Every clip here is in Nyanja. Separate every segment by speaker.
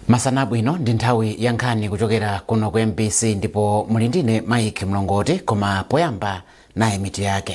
Speaker 1: masana abwino ndi nthawi ya nkhani kuchokera kuno ku mbc ndipo muli ndine mike mlongoti koma poyamba nayi mitu yake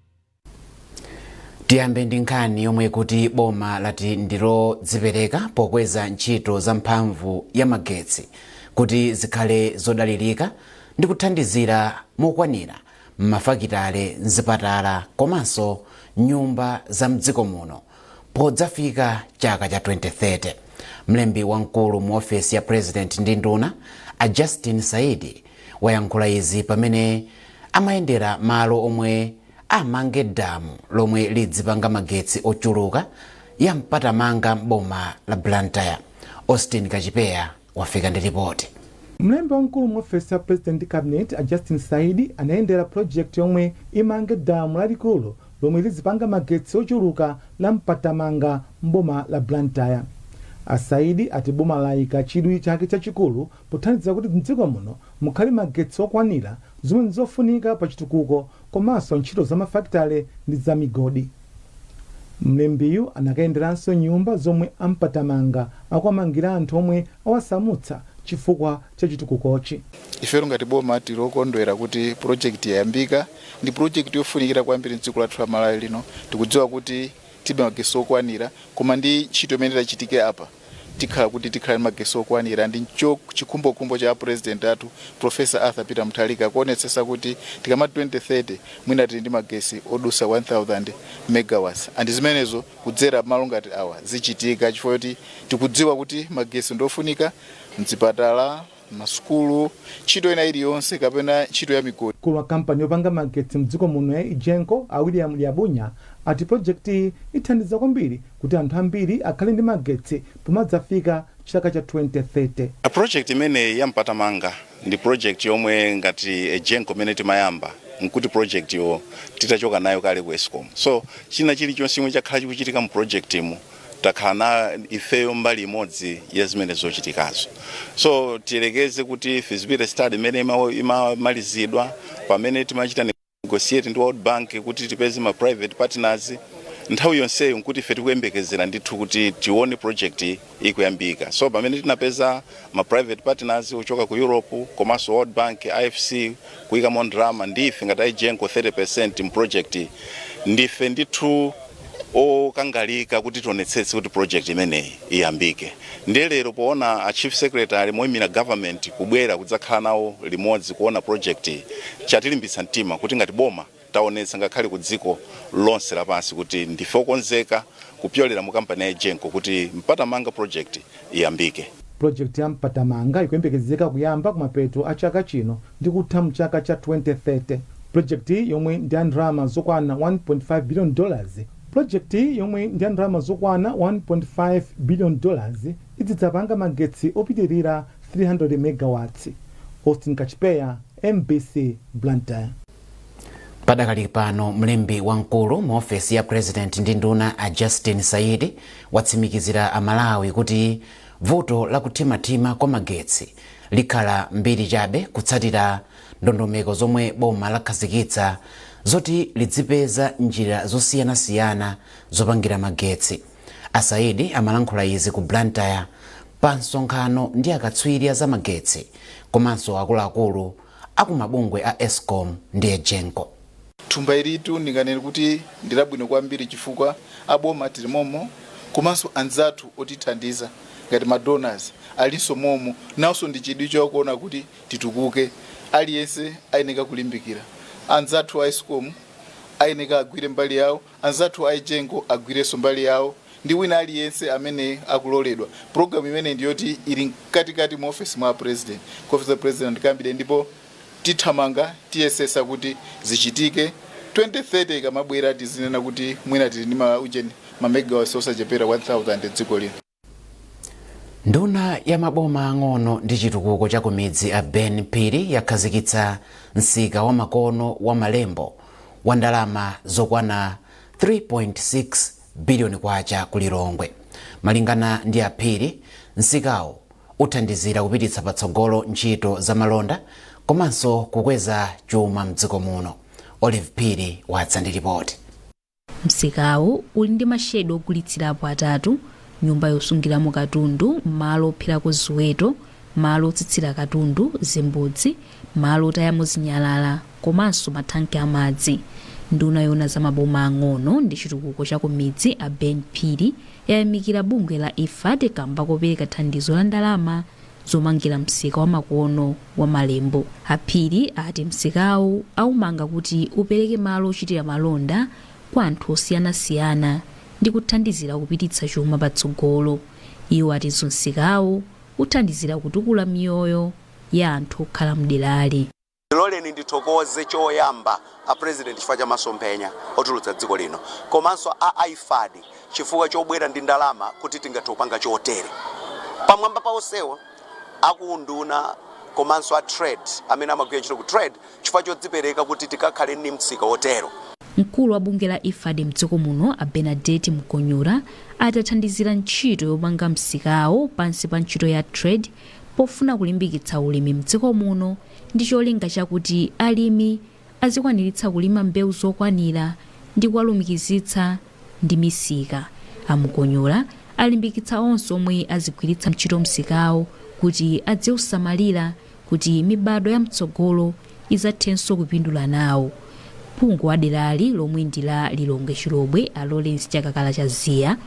Speaker 1: tiyambe ndi nkhani yonena kuti boma lati ndilodzipereka pokweza ntchito za mphamvu ya magetsi kuti zikhale zodalirika ndi kuthandizira mokwanira m'mafakitale mzipatala komanso nyumba za mdziko muno podzafika chaka cha 2030 mlembi wamkulu mu ofesi ya president ndi nduna a justin saidi Wayankhula izi pamene amayendera malo omwe amange damu lomwe lidzipanga magetsi ochuluka la Mpatamanga m'boma la Blantyre. Austin Kachipeya wafika ndi lipoti. Mlembi
Speaker 2: wamkulu mu ofesi ya President ndi Cabinet, a Justin Saidi, anayendera project yomwe imange damu lalikulu lomwe lidzipanga magetsi ochuluka la Mpatamanga m'boma la Blantyre. A Saidi ati boma layika chidwi chake chachikulu pothandizira kuti m'dziko muno mukhale magetsi okwanira, zomwe n'zofunika pa chitukuko komanso ntchito za mafakitale ndi za migodi. Mlembiyu anakayenderanso nyumba zomwe a Mpatamanga akuwamangira anthu omwe awasamutsa chifukwa cha chitukukochi. Ifetu
Speaker 3: ngati boma tili okondwera kuti pulojekiti yayambika. Ndi pulojekiti yofunikira kwambiri m'dziko lathu la Malawi lino. Tikudziwa kuti tilibe magetsi okwanira, koma ndi ntchito imene itachitike apa, tikhala kuti tikhala ndi magesi okwanira ndi ncho chikhumbokhumbo cha apresident athu professor arthur peter mutharika kuonetsetsa kuti tikamati 2030 mwina tili ndi magesi odusa 1000 megawatts and zimenezo kudzera malo ngati awa zichitika chifukwa choti tikudziwa kuti magesi ndiofunika mzipatala masukulu ntchito ina iliyonse kapena ntchito ya migodi. Mkulu wa kampani
Speaker 2: yopanga magetsi mdziko muno ya Egenco, a William Liabunya, ati pulojekitiyi ithandiza kwambiri kuti anthu ambiri akhale ndi magetsi pomadzafika chaka cha 2030. Project imene
Speaker 4: ya Mpatamanga ndi project yomwe ngati Egenco imene timayamba nkuti project yo titachoka nayo kale ku escom so china chilichonse chomwe chakhala chikuchitika mu project mu takhala na ifeyo mbali imodzi ya zimene zochitikazo so tiyerekeze kuti feasibility study imene imamalizidwa pamene timachita negotiate ndi world bank kuti tipeze ma private partners nthawi yonseyo nkuti ife tikuyembekezera ndithu kuti tione project iyi ikuyambika so pamene tinapeza ma private partners kuchoka ku europe komanso world bank ifc kuyikamo ndalama ndi ife ngati egenco 30 percent mu project iyi. ndife ndithu okangalika kuti tionetsetse kuti project imeneyi iyambike ndiye lero poona a chief secretary moyimira government kubwera kudzakhala nawo limodzi kuona project iyi chatilimbitsa mtima kuti ngati boma taonetsa ngakhale ku dziko lonse lapansi kuti ndife okonzeka kupyolera mu kampani ya Egenco kuti mpatamanga project iyambike. Pulojekiti ya
Speaker 2: Mpatamanga ikuyembekezeka kuyamba kumapeto a chaka chino ndi kutha mu chaka cha 2030. Pulojekitiyi yomwe ndi ya ndalama zokwana 1.5 biliyoni dolazi Pulojekitiyi yomwe ndi ya ndalama zokwana 1.5 biliyoni dolazi idzidzapanga magetsi opitilira 300 megawatsi. Austin Kachipeya, mbc, Blantyre.
Speaker 1: padakali pano mlembi wamkulu mu ofesi ya president ndi nduna a justin saidi watsimikizira amalawi kuti vuto la kuthimathima kwa magetsi likhala mbiri chabe kutsatira ndondomeko zomwe boma lakhazikitsa zoti lidzipeza njira zosiyanasiyana zopangira magetsi a saidi amalankhula izi ku blantyre pa msonkhano ndi akatswiri a zamagetsi komanso akuluakulu akumabungwe a escom ndi egenco. Thumba ilitu
Speaker 3: ndinganene kuti ndilabwino kwambiri chifukwa aboma tili momo komanso anzathu otithandiza ngati ma donors alinso momo nawonso ndi chidwi chokuona kuti titukuke aliyense ayeneka kulimbikira anzathu a escom ayeneka agwire mbali yawo Anzathu a Egenco agwirenso mbali yawo ndi wina aliyense amene akuloledwa. Program imeneyi ndi yoti ili mkatikati mu ofesi mwa a President, ku office of President and Cabinet ndipo tithamanga tiyesesa kuti zichitike 2030 ikamabwera tizinena kuti mwina tili ndi ma ujeni, ma megawatts osachepera 1000 dziko lino.
Speaker 1: nduna ya maboma ang'ono ndi chitukuko cha kumidzi a ben phiri yakhazikitsa msika wamakono wa malembo wa ndalama zokwana 3.6 biliyoni kwacha ku lilongwe malingana ndi aphiri msikawo uthandizira kupititsa patsogolo ntchito za malonda komanso kukweza chuma mdziko muno olive phiri wadza ndi ripoti
Speaker 5: Msikawu uli ndi mashedi ogulitsirapo atatu, nyumba yosungiramo katundu, malo opherako ziweto, malo otsitsira katundu, zimbudzi, malo otayamo zinyalala komanso mathanki a madzi. Nduna yoona za maboma ang'ono ndi chitukuko cha kumidzi a Ben Phiri yayamikira bungwe la IFAD kamba kopereka thandizo la ndalama zomangira msika wamakono wa Malembo. A Phiri ati msikawu aumanga kuti upereke malo ochitira malonda kwa anthu osiyanasiyana ndi kuthandizira kupititsa chuma patsogolo. Iwo atinso msikawu uthandizira kutukula miyoyo ya anthu okhala m'derali.
Speaker 6: Ndiloleni ndithokoze choyamba a President chifukwa cha masomphenya otukula dziko lino komanso a IFAD chifukwa chobwera ndi ndalama kuti tingathe kupanga chotere. Pamwamba pa onsewo a ku unduna komanso a trade amene amagwira ntchito ku trade chifukwa chodzipereka kuti tikakhale ndi msika otero. Mkulu
Speaker 5: wa bungwe la IFAD mdziko muno a Bernadette Mukonyora ati athandizira ntchito yomanga msikawo pansi pa ntchito ya trade, pofuna kulimbikitsa ulimi mdziko muno ndi cholinga chakuti alimi azikwaniritsa kulima mbewu zokwanira ndi kuwalumikizitsa ndi misika. A Mukonyora alimbikitsa onse omwe azigwiritsa ntchito msikawo kuti adziusamalira kuti mibadwo ya mtsogolo izathenso kupindula nawo. Phungu wa derali lomwe ndi la Lilongwe Chilobwe a Lawrence Chakakala Chaziya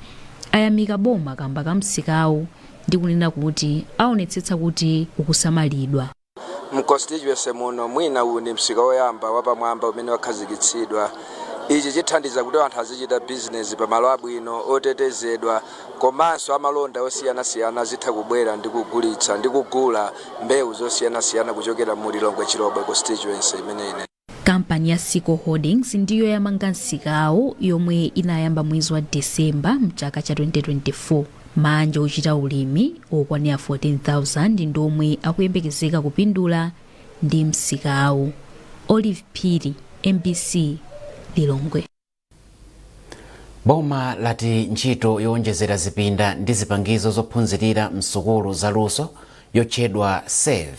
Speaker 5: ayamika boma kamba ka msikawu ndi kunena kuti aonetsetsa kuti ukusamalidwa. Mu
Speaker 7: constituency muno mwina uwu ndi msika woyamba wapamwamba umene wakhazikitsidwa. Ichi chithandiza kuti anthu azichita business pa malo abwino, otetezedwa komanso amalonda osiyanasiyana azitha kubwera ndi kugulitsa ndi kugula mbewu zosiyanasiyana kuchokera mu Lilongwe Chilobwe constituency imeneyi. kampani ya
Speaker 5: Sico Holdings ndiyo yamanga msikawu yomwe inayamba mwezi wa December mchaka cha 2024 maanja ochita ulimi okwanira 14,000 ndi omwe akuyembekezeka kupindula ndi msikawu Olive Phiri MBC Lilongwe
Speaker 1: boma lati ntchito yowonjezera zipinda ndi zipangizo zophunzirira msukulu za luso yotchedwa save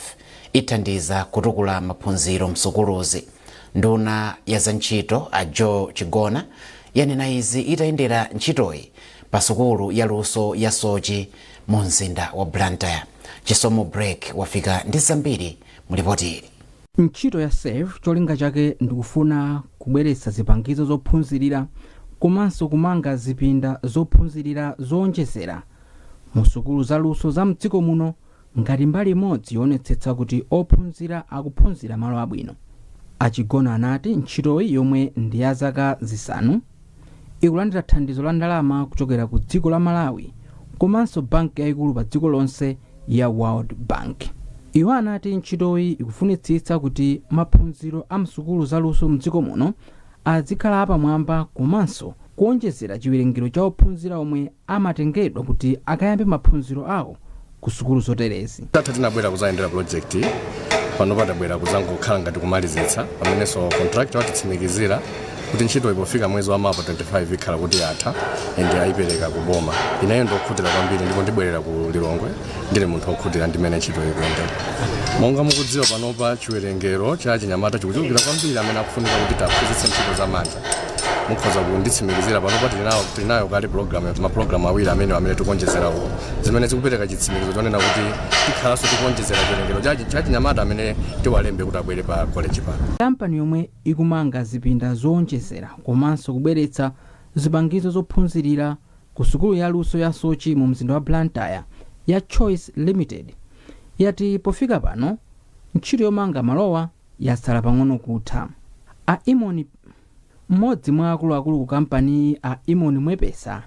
Speaker 1: ithandiza kutukula maphunziro msukuluzi nduna ya za ntchito a joel chigona yanena izi itayendera ntchitoyi pa sukulu ya luso ya soche mu mzinda wa blantyre chisomo break wafika ndi zambiri mu lipotili Ntchito
Speaker 8: ya SAVE cholinga chake ndikufuna kubweretsa zipangizo zophunzirira komanso kumanga zipinda zophunzirira zoonjezera mu sukulu za luso za mdziko muno ngati mbali imodzi yoonetsetsa kuti ophunzira akuphunzira malo abwino. A Chigona anati ntchitoyi yomwe ndi ya zaka zisanu, ikulandira thandizo la ndalama kuchokera ku dziko la malawi komanso banki yayikulu pa dziko lonse ya world bank iwo anati ntchitoyi ikufunitsitsa kuti maphunziro a msukulu za luso mdziko muno azikhala apamwamba komanso kuonjezera chiwerengero cha ophunzira omwe amatengedwa kuti akayambe maphunziro awo ku sukulu zoterezi. Tate tinabwera
Speaker 9: kuzayendera project iyi panopa tabwera kuzangokhala ngati kumalizitsa pamenenso contractor watitsimikizira kuti ntchitoyi pofika mwezi wa mawa 25 ikhala kuti yatha and ayipereka ku boma ineyo ndiokhutira kwambiri ndipo ndibwerera ku lilongwe ndili munthu okhutira ndimene ntchito ikuyendera monga mukudziwa panopa chiwerengero cha achinyamata chikuchulukira kwambiri amene akufunika kuti tiwaphunzitse ntchito za manja mukhoza kunditsimikizira panopa tili nawo- tili nayo kale program mapulogalamu awiri amene amene tikuonjezerawo zimene zikupereka chitsimikizo chonena kuti tikhalanso tikuonjezera chiwerengero cha- cha chinyamata amene tiwalembe kuti abwere pa koleji pano kampani yomwe
Speaker 8: ikumanga zipinda zoonjezera komanso kubweretsa zipangizo zophunzirira ku sukulu ya luso ya soche mu mzinda wa blantyre ya choice limited yati pofika pano ntchito yomanga malowa yatsala pang'ono kutha. A Imon Mmodzi mwa akuluakulu ku kampaniyi a Imon Mwepesa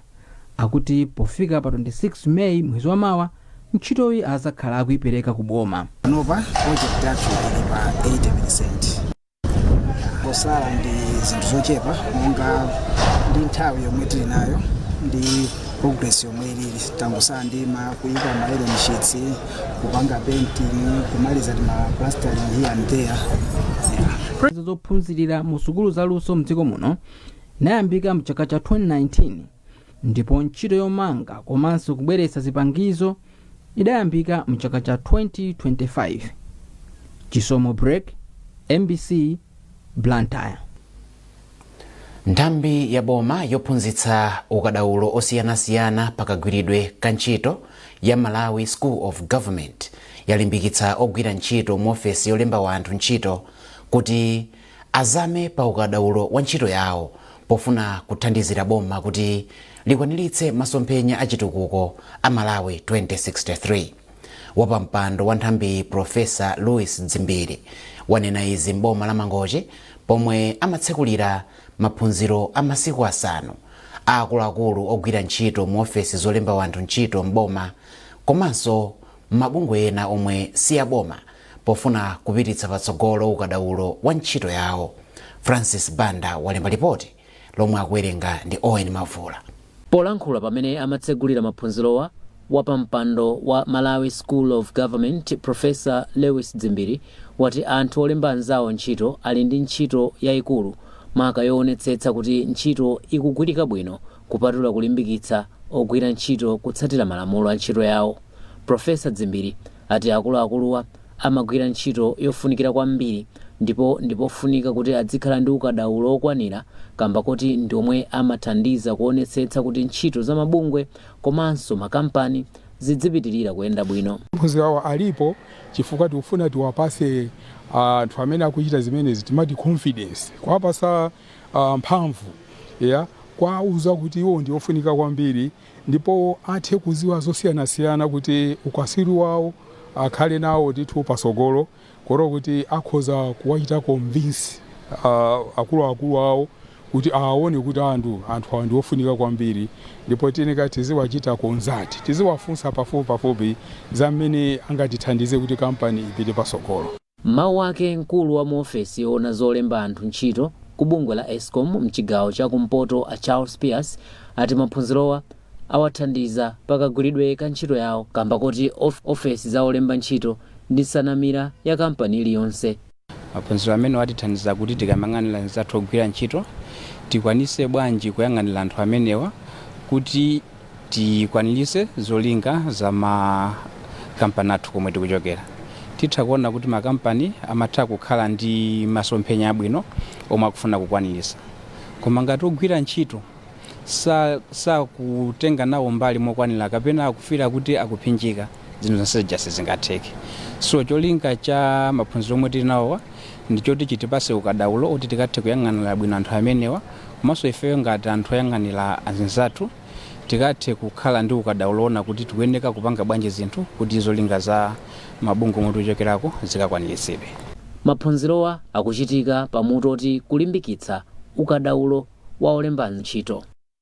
Speaker 8: akuti pofika pa 26 May mwezi wa mawa ntchitoyi azakhala akuipereka ku boma. Panopa
Speaker 10: project yathu ili pa 80%. Zotsala ndi zinthu zochepa monga ndi nthawi yomwe tili nayo ndi progress yomwe ilili tangotsala ndima kuyika ma iron sheets kupanga painting kumaliza tima plastering here and there Prezo zophunzirira
Speaker 8: mu sukulu za luso mdziko muno inayambika mchaka cha 2019 ndipo ntchito yomanga komanso kubweretsa zipangizo idayambika mchaka cha 2025 chisomo break mbc blantyre
Speaker 1: nthambi ya boma yophunzitsa ukadaulo osiyanasiyana pa kagwiridwe ka ntchito ya malawi school of government yalimbikitsa ogwira ntchito mu ofesi yolemba wanthu ntchito kuti azame pa ukadaulo wa ntchito yawo pofuna kuthandizira boma kuti likwaniritse masomphenya a chitukuko a malawi 2063 Wapampando wa nthambiyi Profesa Lewis Dzimbiri wanena izi m'boma la Mangochi pomwe amatsekulira maphunziro a masiku asanu a akuluakulu ogwira ntchito mu ofesi zolemba wanthu ntchito m'boma komanso m'mabungwe ena omwe si aboma pofuna kupititsa patsogolo ukadaulo wa ntchito yawo. Francis Banda walemba lipoti lomwe akuwerenga ndi Owen Mavula. Polankhula pamene
Speaker 11: amatsegulira maphunzirowa, wapampando wa Malawi School of Government, Professor Lewis Dzimbiri, wati anthu olemba anzawo ntchito ali ndi ntchito yaikulu maka yoonetsetsa kuti ntchito ikugwirika bwino kupatula kulimbikitsa ogwira ntchito kutsatira malamulo a ntchito yawo. Professor Dzimbiri. ati akuluakuluwa amagwira ntchito yofunikira kwambiri ndipo ndipofunika kuti adzikhala ndi ukadaulo okwanira kamba koti ndiomwe amathandiza kuonetsetsa kuti ntchito za mabungwe komanso makampani zidzipitilira kuyenda bwino. Maphunziro awa alipo
Speaker 12: chifukwa tikufuna tiwapase anthu amene akuchita zimenezi timati confidence, kuwapasa mphamvu eya, kuwauza kuti iwo ndiofunika kwambiri. ndipo athe kuziwa zosiyanasiyana kuti ukaswiri wawo akhale nawo ndithu patsogolo kotero kuti akhoza kuwachita convince uh, akuluakulu awo kuti awaone kuti anthu anthu awa ndiofunika kwambiri ndipo tiyeneka tiziwachita consult tiziwafunsa pafupi pafupi za mmene angatithandize kuti kampani ipite patsogolo M'mawu
Speaker 11: ake mkulu wa mu ofesi yoona zolemba anthu ntchito ku bungwe la Escom mchigawo cha ku mpoto a Charles Pierce ati maphunzirowa awathandiza pa kagwiridwe ka ntchito yawo kamba koti ofesi za olemba ntchito ndi nsanamira ya kampani iliyonse. Maphunziro
Speaker 13: amenewa atithandiza kuti tikamang'anira anzathu ogwira ntchito tikwanise bwanji kuyang'anira anthu amenewa kuti. tikwanirise zolinga za makampani athu komwe tikuchokera titha kuona kuti makampani amatha kukhala ndi masomphenya abwino omwe akufuna kukwanirisa koma ngati ogwira ntchito sa- sakutenga nawo mbali mokwanira kapena akufeela kuti akuphinjika zinthu zonse zija sizingatheke so cholinga cha maphunziro omwe tili nawowa ndi choti chitipase ukadaulo oti tikathe kuyang'anira bwino anthu amenewa komanso ifeyo ngati anthu oyang'anira anzathu tikathe kukhala ndi ukadaulo oona kuti tikuyeneka kupanga bwanji zinthu kuti zolinga za mabungwe omwe tikuchokerako zikakwaniritsidwe maphunzirowa
Speaker 11: akuchitika pa mutu oti kulimbikitsa ukadaulo wa olemba ntchito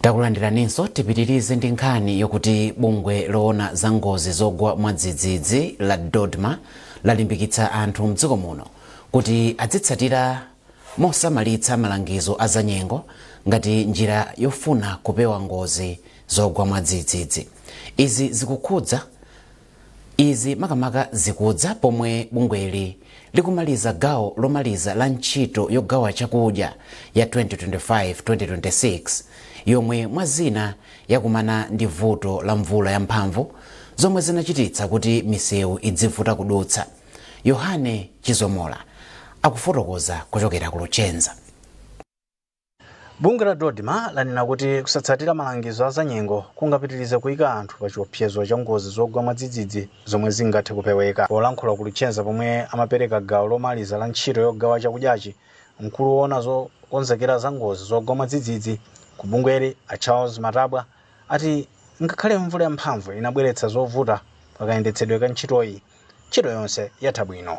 Speaker 1: takulandiraninso tipitirize ndi nkhani yokuti bungwe loona za ngozi zogwa mwadzidzidzi la dodma lalimbikitsa anthu mdziko muno kuti adzitsatira mosamalitsa malangizo a zanyengo ngati njira yofuna kupewa ngozi zogwa mwadzidzidzi izi zikukhudza Izi makamaka zikudza pomwe bungweli likumaliza gawo lomaliza la ntchito yogawa chakudya ya 2025-2026 yomwe mwa zina yakumana ndi vuto la mvula yamphamvu zomwe zinachititsa kuti misewu idzivuta kudutsa. Yohane Chizomola akufotokoza kuchokera ku Luchenza.
Speaker 14: Bungwe la DoDMA lanena kuti kusatsatira malangizo a zanyengo kungapitirize kuika anthu pa chiopsezo cha ngozi zogwa mwadzidzidzi zomwe zingathe kupeweka. Polankhula ku Luchenza pomwe amapereka gawo lomaliza la ntchito yogawa chakudyachi, mkulu woona zokonzekera za ngozi zogwa mwadzidzidzi ku bungweli a Charles Matabwa ati ngakhale mvula yamphamvu inabweretsa zovuta pa kayendetsedwe ka ntchitoyi, Ntchito yonse yatha bwino.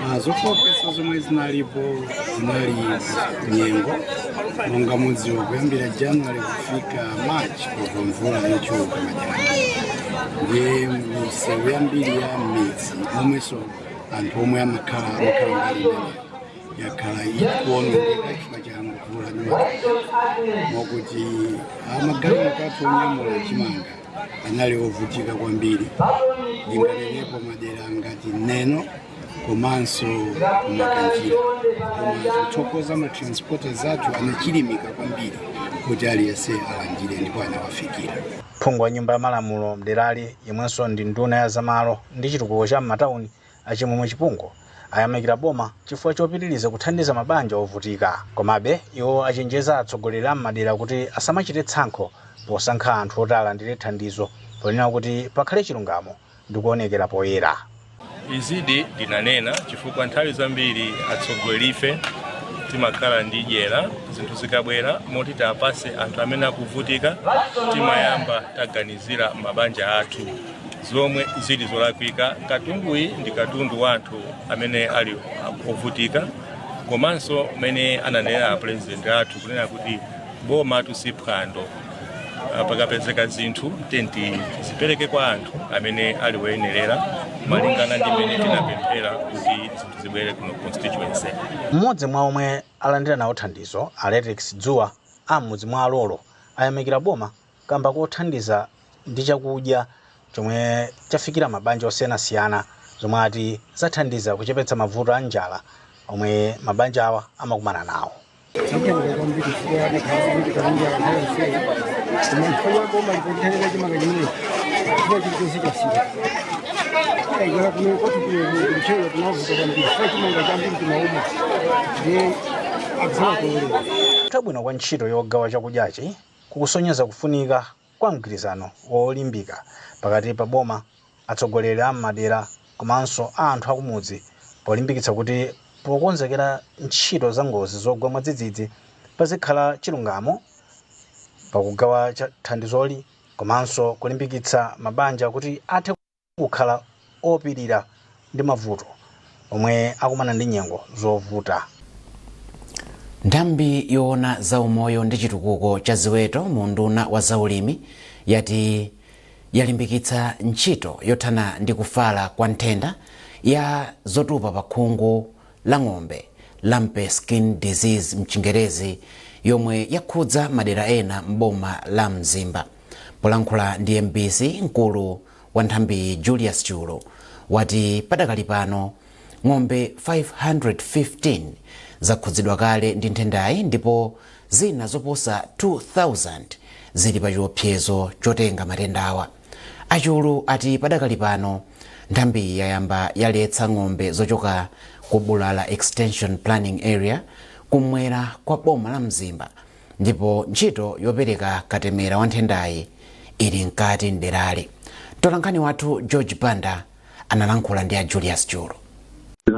Speaker 14: Ah,
Speaker 15: zofooketsa zomwe zinalipo zinali nyengo monga mudziwa kuyambira january kufika march kumagwa mvula yochuluka ndiye misewu yambiri ya midzi momwenso anthu omwe amakhala amakhala mbali imeneyo yakhala ikuonongeka chifukwa cha mvula ndi madzi mokuti amagalimoto athu onyamula chimanga anali ovutika kwambiri ndinganenepo madera ngati neno komanso ku Makanjira koma tikuthokoza matransporters athu anachilimika kwambiri kuti aliyense alandire ndipo anawafikira phungu wa nyumba
Speaker 14: ya malamulo mderali yemwenso ndi nduna ya zamalo ndi chitukuko cha m'matawuni A Chimwemwe Chipungu ayamikira boma chifukwa chopitiliza kuthandiza mabanja ovutika. Komabe, iwo achenjeza atsogoleri a m'madera kuti asamachite tsankho posankha anthu oti alandire thandizo ponena kuti pakhale chilungamo ndi kuonekera poyera.
Speaker 16: Izidi ndinanena chifukwa nthawi zambiri atsogolerife timakhala ndi dyera zinthu zikabwera moti tiwapatse anthu amene akuvutika timayamba taganizira mabanja athu. zomwe zili zolakwika katunduyi ndi katundu wa anthu amene ali ovutika komanso mmene ananenera apurezidenti athu kunena kuti boma ilitu si phwando Ah, pakapezeka zinthu tenti zipereke kwa anthu amene ali woyenerera malingana ndi mmene tinapemphera kuti zinthu zibwere kuno constituency mmodzi mwa
Speaker 14: omwe alandira nawo thandizo a Letrix Dzuwa am'mudzi mwa a Lolo ayamikira boma kamba kothandiza ndi chakudya chomwe chafikira mabanja osiyanasiyana zomwe ati zathandiza kuchepetsa mavuto a njala omwe mabanjawa amakumana nawo kutha bwino kwa ntchito yogawa chakudyachi kukusonyeza kufunika kwa mgwirizano wolimbika pakati pa boma, atsogoleri a m'madera komanso a anthu akumudzi polimbikitsa kuti pokonzekera ntchito za ngozi zogwa mwadzidzidzi pazikhala chilungamo pakugawa thandizoli komanso kulimbikitsa mabanja kuti athe kukhala opirira ndi mavuto omwe akumana ndi nyengo zovuta. Nthambi
Speaker 1: yoona za umoyo ndi chitukuko cha ziweto mu unduna wa zaulimi yati yalimbikitsa ntchito yothana ndi kufala kwa nthenda ya zotupa pa khungu la ng'ombe, lumpy skin disease mchingerezi, yomwe yakhudza madera ena m'boma la Mzimba. Polankhula ndi mbc, mkulu wa nthambiyi Julius Chulu wati padakali pano ng'ombe 515 zakhudzidwa kale ndi nthendayi ndipo zina zoposa 2,000 zili pa chiopsezo chotenga matendawa. A Chulu ati padakali pano nthambiyi yayamba yaletsa ng'ombe zochoka ku Bulala Extension Planning Area kummwera kwa boma la Mzimba ndipo ntchito yopereka katemera wa nthendayi ili mkati mderali. Mtolankhani wathu George Banda analankhula ndi a Julius Chulu.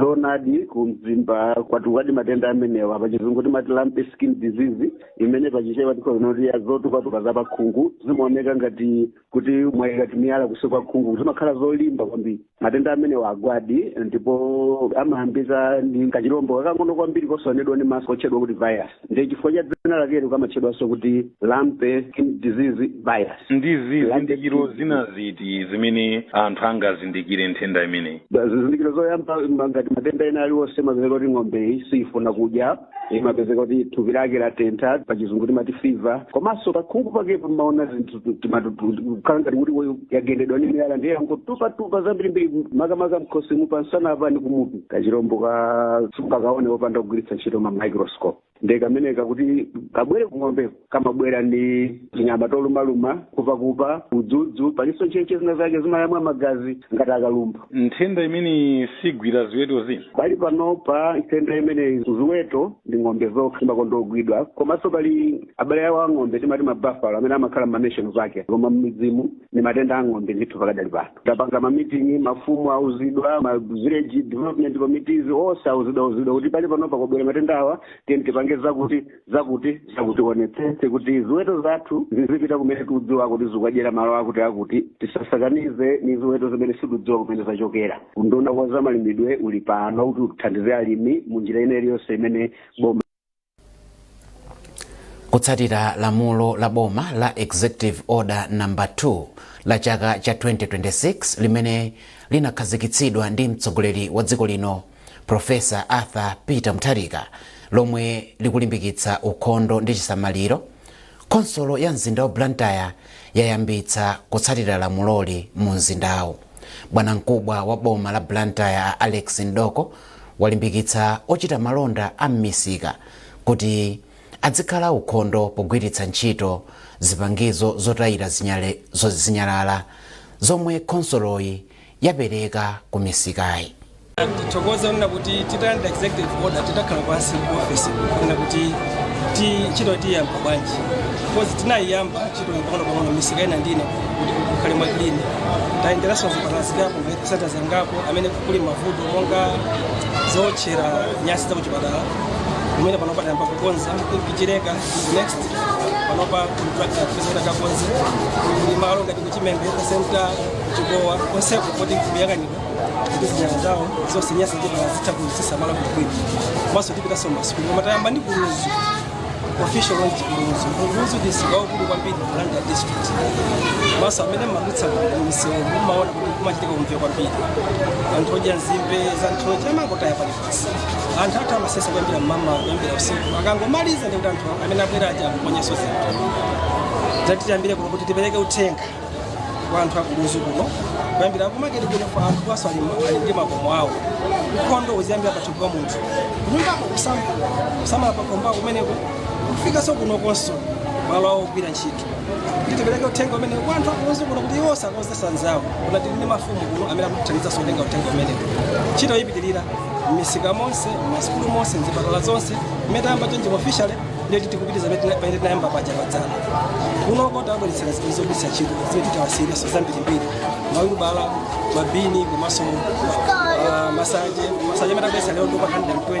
Speaker 17: zoonadi ku mzimba kwatukadi matenda amenewa pachizungu timati lumpy skin disease imene pachichewa tikhoza kuti ya zotukatuka za pakhungu zimaoneka ngati kuti mwayika timiyala kunsi kwa khungu zimakhala zolimba kwambiri matenda amenewa agwadi ndipo amayambika ndi kachilombo kakang'ono kwambiri kosaonedwa ndi maso kotchedwa kuti virus ndiye chifukwa cha dzina lakelo kamatchedwanso kuti lumpy skin disease virus ndi
Speaker 18: zizindikiro zina ziti zimene anthu angazindikire nthenda imeneyi zizindikiro zoyamba ngati
Speaker 17: matenda ena aliwonse mapezeka kuti ng'ombeyi siyifuna kudya imapezeka kuti thupi lake latentha pachizungu timati fever komanso pakhungu pake pamaona zinthu kukhala ngati kuti yagendedwa ndi miyala ndiye yangotupatupa zambirimbiri makamaka mkhosimu pamsana apa ndi kumutu kachirombo ka sungakaone popanda kugwiritsa ntchito ma microscope ndiye kameneka kuti kabwere kung'ombeko kamabwera ndi tinyama tolumaluma nkhupakupa udzudzu palinso ntchentche zina zake zimayamwa magazi ngati akalumbwa nthenda imeneyi
Speaker 18: sigwira ziweto zina pali panopa
Speaker 17: nthenda imeneyi ziweto ndi ng'ombe zokha zimakonda kugwidwa komanso pali abale awo a ng'ombe timati ma buffalo amene amakhala m'mameshoni zake koma m'midzimo ndi matenda a ng'ombe ndithu pakadali pano tapanga mamitingi mafumu auzidwa ma village development committees onse auzidwa auzidwa kuti pali panopa kwabwera matenda awa tiyeni tipange zakuti zakuti zakuti tionetsetse kuti ziweto zathu zizipita kumene tikudziwa kuti zikadyera malo akuti akuti tisasakanize ni ziweto zimene sitikudziwa kumene zachokera unduna wa zamalimidwe uli pano kuti uthandize alimi mu njira ina iliyonse imene
Speaker 1: boma kutsatira lamulo la boma la executive order number 2 la chaka cha 2026 limene linakhazikitsidwa ndi mtsogoleri wa dziko lino Prof. Arthur Peter Mutharika lomwe likulimbikitsa ukhondo ndi chisamaliro, khonsolo ya mzinda wa Blantyre yayambitsa kutsatira lamuloli mu mzindawu. Bwanamkubwa wa boma la Blantyre a Alex Mdoko walimbikitsa ochita malonda a m'misika kuti adzikhala aukhondo pogwiritsa ntchito zipangizo zotayira zinyalala zomwe khonsoloyi yapereka ku misikayi
Speaker 19: tithokoze kunena kuti titalandira executive order tinakhala pansi ku office kunena kuti ntchito tiyamba bwanji because tinayiyamba ntchito pang'ono pang'ono misika ina ndi ina kuti kukhale mwa clean tayenderanso zipatala zingapo health centers zingapo amene kuli mavuto monga zootchera nyansi za kuchipatala kumene panopa tayamba kukonza ku Chileka next panopa kuli contractor akakonze kuli malo ngati Chimembe ku center ku Chikowa konseku kuti kuyang'anira kuti zinyalala zawo zonse nyansi zipatala kuzisamala bwinobwino komanso tipitanso m'masukulu koma tayamba ndi ku Lunzu official launch ku Lunzu ku Lunzu ndi msika waukulu kwambiri ku Blantyre district komanso amene mmadutsa msewu mmaona kuti kumachitika umve kwambiri anthu odya nzimbe za nthochi amangotaya paliponse anthu athu amasesa kuyambira mmama kuyambira usiku akangomaliza ndikuti anthu amene abwera aja aponyenso zinthu ndiye tati tiyambire kuno kuti tipereke uthenga kwa anthu a ku Lunzu kuno kuyambira kumaketi kuno kwa anthu ameneso ali ndi makomo awo ukhondo uziyambira pathupi pa munthu kunyumbako kusamala pakomo pako kumeneko kufikaso kuno komanso malo awo ogwira ntchito tipereke uthenga umenewu kwa anthu a ku Lunzu kuno kuti iwoso akauzeso anzawo kuno tili ndi mafumu kuno amene akutithandizaso kutenga uthenga umenewu ntchito yipitirira m'misika monse m'masukulu monse mzipatala zonse imene tayamba chonchi officially ndiye tikupitiriza pamene tinayamba paja padzana kunoko tawabweretsera zinthu zogwiritsa ntchito zimene tiwasiyireso zambirimbiri mawilubala mabini komanso ah, masache masache amene tabweretsa lero ndi okwana 120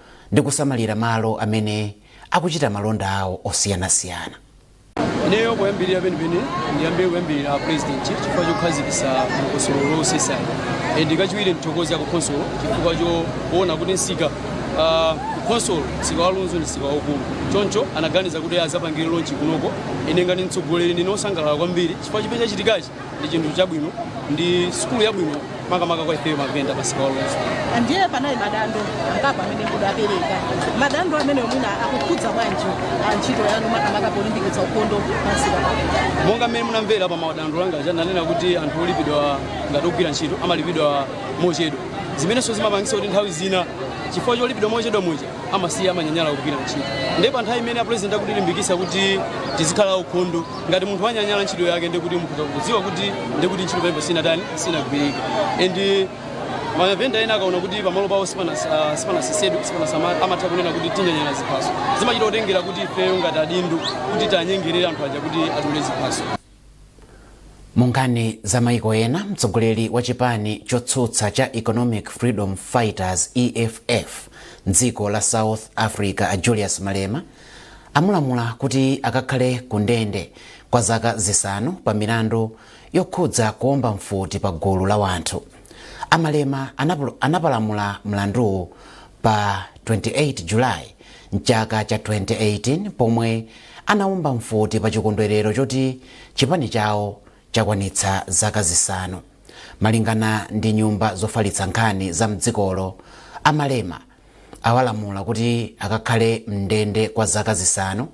Speaker 1: ndi kusamalira malo amene akuchita malonda awo osiyanasiyana.
Speaker 20: Ineyo poyambirira penipeni ndiyambe kuyamikira a president chifukwa chokhazikitsa dongosolo losesali ndiye kachiwiri ndithokoze a ku khonsolo chifukwa choona kuti msika ah, ku khonsolo msika wa Lunzu ndi msika waukulu choncho anaganiza kuti azapangire lonchi kunoko ine ngati mtsogoleri ndine wosangalala kwambiri chifukwa chimene chachitikachi ndi chinthu chabwino ndi sukulu yabwino makamaka kwa ifeyo mavenda pa msika wa Lunzu ndiye
Speaker 21: panali madando angapo amene mudapereka madando amene mwina akukhudza bwanji ah, ntchito yanu makamaka polimbikitsa ukhondo pa msika pano monga mmene munamvera
Speaker 20: pa madando anga aja ndanena kuti anthu olipidwa ngati ogwira ntchito amalipidwa mochedwa zimenenso zimapangitsa kuti nthawi zina chifukwa cholipidwa mochedwa muja amasiya amanyanyala kugwira ntchito ndiye pa nthawi imene apulezidenti akutilimbikitsa kuti tizikhala aukhondo ngati munthu wanyanyala ntchito yake ndikuti mukhoza kudziwa kuti ndikuti ntchito pamene sinatani sinagwirike and mavenda ena akaona kuti pamalo pawo sipanasesedwe sipanasama amatha kunena kuti tinyanyala ziphaso zimachita kutengera kuti ifeyo ngati adindo kuti tanyengerere anthu aja kuti adule ziphaso
Speaker 1: munkhani za maiko ena mtsogoleri wa chipani chotsutsa cha economic freedom fighters eff mdziko la south africa a julius malema amulamula kuti akakhale ku ndende kwa zaka zisanu pa milandu yokhudza kuomba mfuti pa gulu la wanthu amalema anapalamula mlanduwu pa 28 julayi mchaka cha 2018 pomwe anaomba mfuti pa chikondwerero choti chipani chawo chakwanitsa zaka zisanu malingana ndi nyumba zofalitsa nkhani za mdzikolo amalema awalamula kuti akakhale m'ndende kwa zaka zisanu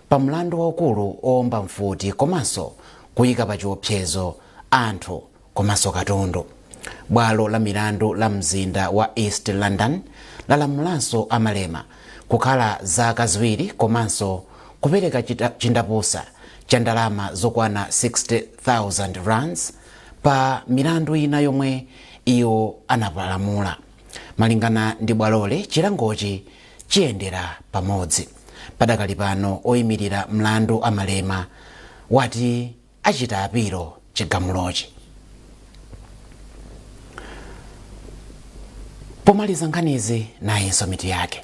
Speaker 1: pa mlandu waukulu owomba mfuti komanso kuyika pa chiopsezo anthu komanso katundu. Bwalo la milandu la mzinda wa East London lalamulanso a Malema kukhala zaka ziwiri komanso kupereka chindapusa cha ndalama zokwana 60,000 rands pa milandu ina yomwe iwo anapalamula. Malingana ndi bwaloli, chilangochi chiyendera pamodzi. Padakali pano oyimilira mlandu a Malema wati achita apilo chigamulochi. Pomaliza nkhanizi nayinso mitu yake.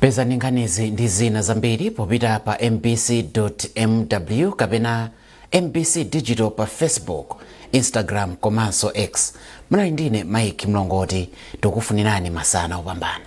Speaker 1: pezani nkhanizi ndi zina zambiri popita pa mbc mw kapena mbc digital pa facebook instagram komanso x munali ndine mike mlongoti tikufunirani masana opambana